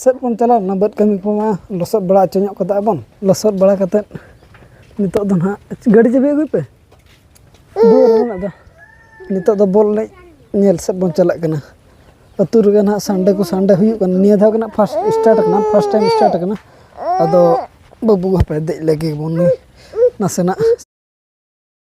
ᱥᱮᱫ ᱵᱚᱱ ᱪᱟᱞᱟᱣ ᱞᱮᱱᱟ ᱵᱟᱹᱫᱽ ᱠᱟᱹᱢᱤ ᱠᱚᱢᱟ ᱞᱚᱥᱚᱫ ᱵᱟᱲᱟ ᱦᱚᱪᱚ ᱧᱚᱜ ᱠᱟᱫᱟ ᱵᱚᱱ ᱞᱚᱥᱚᱫ ᱵᱟᱲᱟ ᱠᱟᱛᱮᱫ ᱱᱤᱛᱚᱜ ᱫᱚ ᱦᱟᱸᱜ ᱜᱟᱹᱰᱤ ᱪᱟᱹᱵᱤ ᱟᱹᱜᱩᱭ ᱯᱮ ᱟᱫᱚ ᱱᱤᱛᱚᱜ ᱫᱚ ᱵᱚᱞ ᱮᱱᱮᱡ ᱧᱮᱞ ᱥᱮᱫ ᱵᱚᱱ ᱪᱟᱞᱟᱜ ᱠᱟᱱᱟ ᱟᱹᱛᱩ ᱨᱮᱜᱮ ᱦᱟᱸᱜ ᱥᱟᱱᱰᱮ ᱠᱚ ᱥᱟᱱᱰᱮ ᱦᱩᱭᱩᱜ ᱠᱟᱱᱟ ᱱᱤᱭᱟᱹ ᱫᱷᱟᱣ ᱜᱮ ᱦᱟᱸᱜ ᱯᱷᱟᱥᱴ ᱥᱴᱟᱨᱴ ᱠᱟᱱᱟ ᱯᱷᱟᱥᱴ ᱴᱟᱭᱤᱢ ᱥᱴᱟᱨᱴ ᱠᱟᱱᱟ ᱟᱫᱚ ᱵᱟᱹᱵᱩ ᱦᱟᱯᱮ ᱫᱮᱡ ᱞᱮᱜᱮ ᱵᱚᱱ ᱱᱟᱥᱮᱱᱟᱜ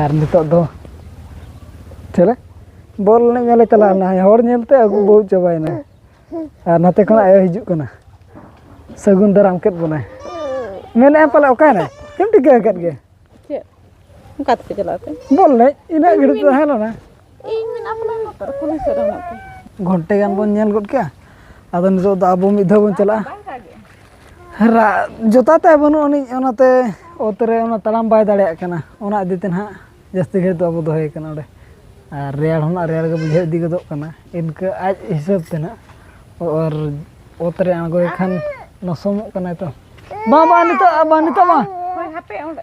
ᱟᱨ ᱱᱤᱛᱚᱜ ᱫᱚ ᱪᱮᱞᱮ ᱵᱚᱞ ᱮᱱᱮᱡ ᱧᱮᱞᱮ ᱪᱟᱞᱟᱣ ᱞᱮᱱᱟ ᱦᱚᱲ ᱧᱮᱞᱛᱮ ᱟᱹᱜᱩ ᱵᱟᱹᱦᱩ ᱪᱟᱵᱟᱭᱮᱱᱟ ᱟᱨ ᱱᱟᱛᱮ ᱠᱷᱚᱱ ᱟᱭᱳ ᱦᱤᱡᱩᱜ ᱠᱟᱱᱟ ᱥᱟᱹᱜᱩᱱ ᱫᱟᱨᱟᱢ ᱠᱮᱫ ᱵᱚᱱᱟᱭ ᱢᱮᱱᱮᱫᱼᱟ ᱯᱟᱞᱮ ᱚᱠᱟᱭᱮᱱᱟᱭ ᱪᱮᱫ ᱴᱷᱤᱠᱟᱹ ᱟᱠᱟᱫ ᱜᱮ ᱪᱮᱫ ᱚᱠᱟ ᱛᱮᱯᱮ ᱪᱟᱞᱟᱜ ᱛᱮ ᱵᱚᱞ ᱮᱱᱮᱡ ᱤᱱᱟᱹᱜ ᱜᱷᱟᱹᱲᱤᱡ ᱛᱟᱦᱮᱸ ᱞᱮᱱᱟ ᱤᱧ ᱢᱮᱱᱟᱜ ᱯᱟᱞᱮ ᱱᱚᱛᱮ ᱨᱮ ᱠᱩᱞᱦᱤ ᱥᱮᱫ ᱨᱮ ᱢᱮᱱᱟᱜ ᱯᱮ ᱜᱷᱚᱱᱴᱮ ᱜᱟᱱ ᱵᱚᱱ ᱧᱮᱞ ᱜᱚᱫ ᱠᱮᱜᱼᱟ ᱟᱫᱚ ᱱᱤᱛᱚᱜ ᱫᱚ ᱟᱵᱚ ᱢᱤᱫ ᱫᱷᱟᱣ ᱵᱚᱱ ᱪᱟᱞᱟᱜᱼᱟ ᱵᱟᱝ ᱫᱟᱜᱮᱜᱼᱟ ᱨᱟᱜ ᱡᱚᱛᱟ ᱛᱟᱭ ᱵᱟᱹᱱᱩᱜ ᱟᱹᱱᱤᱡ ᱚᱱᱟᱛᱮ ᱚᱛ ᱨᱮ ᱚᱱᱟ ᱛᱟᱲᱟᱢ ᱵᱟᱭ ᱫᱟᱲᱮᱭᱟᱜ ᱠᱟᱱᱟ ᱚᱱᱟ ᱤᱫᱤ ᱛᱮ ᱱᱟᱦᱟᱜ ᱡᱟᱹᱥᱛᱤ ᱜᱷᱟᱹᱲᱤᱡ ᱫᱚ ᱟᱵᱚ ᱫᱚᱦᱚᱭᱮ ᱠᱟᱱᱟ ᱚᱸᱰᱮ ᱟᱨ ᱨᱮᱭᱟᱲ ᱦᱚᱸ ᱱᱟᱦᱟᱜ ᱨᱮᱭᱟᱲ ᱜᱮ ᱵᱩᱡᱷᱟᱹᱣ ᱤᱫᱤ ᱜᱚᱫᱚᱜ ᱠᱟᱱᱟ ᱤᱱᱠᱟᱹ ᱟᱡ ᱦᱤᱥᱟᱹᱵ ᱛᱮ ᱱᱟᱦᱟᱜ ᱟᱨ ᱚᱛ ᱨᱮ ᱟᱬᱜᱚᱭᱮ ᱠᱷᱟᱱ ᱞᱚᱥᱚᱢᱚᱜ ᱠᱟᱱᱟᱭ ᱛᱚ ᱵᱟᱝ ᱵᱟᱝ ᱱᱤᱛᱚᱜ ᱵᱟᱝ ᱱᱤᱛᱚᱜ ᱵᱟᱝ ᱦᱳᱭ ᱦᱟᱯᱮ ᱚᱸᱰᱮ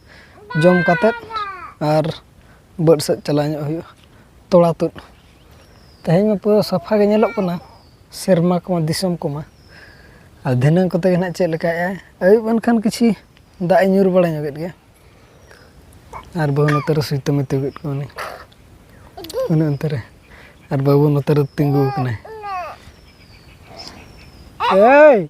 ᱡᱚᱢ ᱠᱟᱛᱮᱫ ᱟᱨ ᱵᱟᱹᱫᱽ ᱥᱮᱫ ᱪᱟᱞᱟᱣ ᱧᱚᱜ ᱦᱩᱭᱩᱜᱼᱟ ᱛᱚᱞᱟ ᱛᱩᱫ ᱛᱮᱦᱮᱧ ᱢᱟ ᱯᱩᱨᱟᱹ ᱥᱟᱯᱷᱟ ᱜᱮ ᱧᱮᱞᱚᱜ ᱠᱟᱱᱟ ᱥᱮᱨᱢᱟ ᱠᱚᱢᱟ ᱫᱤᱥᱚᱢ ᱠᱚᱢᱟ ᱟᱨ ᱫᱷᱤᱱᱟᱹᱝ ᱠᱚᱛᱮ ᱜᱮ ᱦᱟᱸᱜ ᱪᱮᱫ ᱞᱮᱠᱟᱭ ᱟᱭ ᱟᱹᱭᱩᱵ ᱮᱱᱠᱷᱟᱱ ᱠᱤᱪᱷᱩ ᱫᱟᱜ ᱮ ᱧᱩᱨ ᱵᱟᱲᱟ ᱧᱚᱜᱮᱫ ᱜᱮᱭᱟ ᱟᱨ ᱵᱟᱹᱦᱩ ᱱᱚᱛᱮ ᱨᱮ ᱥᱩᱭᱛᱟᱹᱢ ᱮ ᱛᱤᱭᱳᱜᱮᱫ ᱠᱚᱣᱟ ᱩᱱᱤ ᱩᱱᱤ ᱚᱱᱛᱮ ᱨᱮ ᱟᱨ ᱵᱟᱹᱵᱩ ᱱᱚᱛᱮ ᱨᱮ ᱛᱤᱸᱜᱩ ᱟᱠᱟᱱᱟᱭ ᱮᱭ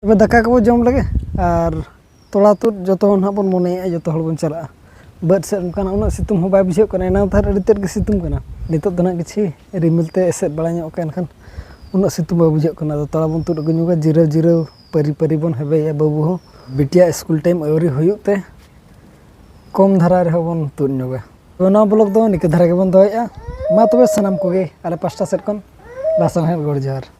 ᱛᱚᱵᱮ ᱫᱟᱠᱟ ᱠᱚᱵᱚ ᱡᱚᱢ ᱞᱮᱜᱮ ᱟᱨ ᱛᱚᱲᱟ ᱛᱩᱫ ᱡᱚᱛᱚ ᱦᱚᱲ ᱱᱟᱦᱟᱜ ᱵᱚᱱ ᱢᱚᱱᱮᱭᱮᱫᱼᱟ ᱡᱚᱛᱚ ᱦᱚᱲ ᱵᱚᱱ ᱪᱟᱞᱟᱜᱼᱟ ᱵᱟᱹᱫᱽ ᱥᱮᱫ ᱚᱱᱠᱟᱱᱟᱜ ᱩᱱᱟᱹᱜ ᱥᱤᱛᱩᱝ ᱦᱚᱸ ᱵᱟᱭ ᱵᱩᱡᱷᱟᱹᱜ ᱠᱟᱱᱟ ᱮᱱᱟᱝ ᱫᱚ ᱟᱹᱰᱤ ᱛᱮᱫ ᱜᱮ ᱥᱤᱛᱩᱝ ᱠᱟᱱᱟ ᱱᱤᱛᱚᱜ ᱫᱚ ᱱᱟᱦᱟᱜ ᱠᱤᱪᱷᱩ ᱨᱤᱢᱤᱞ ᱛᱮ ᱮᱥᱮᱫ ᱵᱟᱲᱟ ᱧᱚᱜ ᱠᱟᱜᱼᱟ ᱮᱱᱠᱷᱟᱱ ᱩᱱᱟᱹᱜ ᱥᱤᱛᱩᱝ ᱵᱟᱭ ᱵᱩᱡᱷᱟᱹᱜ ᱠᱟᱱᱟ ᱟᱫᱚ ᱛᱚᱲᱟ ᱵᱚᱱ ᱛᱩᱫ ᱟᱹᱜᱩ ᱧᱚᱜᱟ ᱡᱤᱨᱟᱹᱣ ᱡᱤᱨᱟᱹᱣ ᱯᱟᱹᱨᱤ ᱯᱟᱹᱨᱤ ᱵᱚᱱ ᱦᱮᱵᱮᱭᱟ ᱵᱟᱹᱵᱩ ᱦᱚᱸ ᱵᱤᱴᱤᱭᱟᱜ ᱥᱠᱩᱞ ᱴᱟᱭᱤᱢ ᱟᱹᱣᱨᱤ ᱦᱩᱭᱩᱜ ᱛᱮ ᱠᱚᱢ ᱫᱷᱟᱨᱟ ᱨᱮᱦᱚᱸ ᱵᱚᱱ ᱛᱩᱫ ᱧᱚᱜᱟ ᱱᱚᱣᱟ ᱵᱞᱚᱜᱽ ᱫᱚ ᱱᱤᱝᱠᱟᱹ ᱫᱷᱟᱨᱟ ᱜᱮᱵᱚᱱ ᱫᱚᱦᱚᱭᱮᱫᱼᱟ ᱢᱟ ᱛᱚᱵᱮ ᱥᱟᱱᱟᱢ ᱠᱚᱜᱮ ᱟᱞᱮ ᱯᱟᱥᱴᱟ ᱥᱮᱫ ᱠᱷᱚᱱ ᱞᱟᱥᱟᱬᱦᱮᱫ ᱜᱚᱰ ᱡᱚᱦᱟᱨ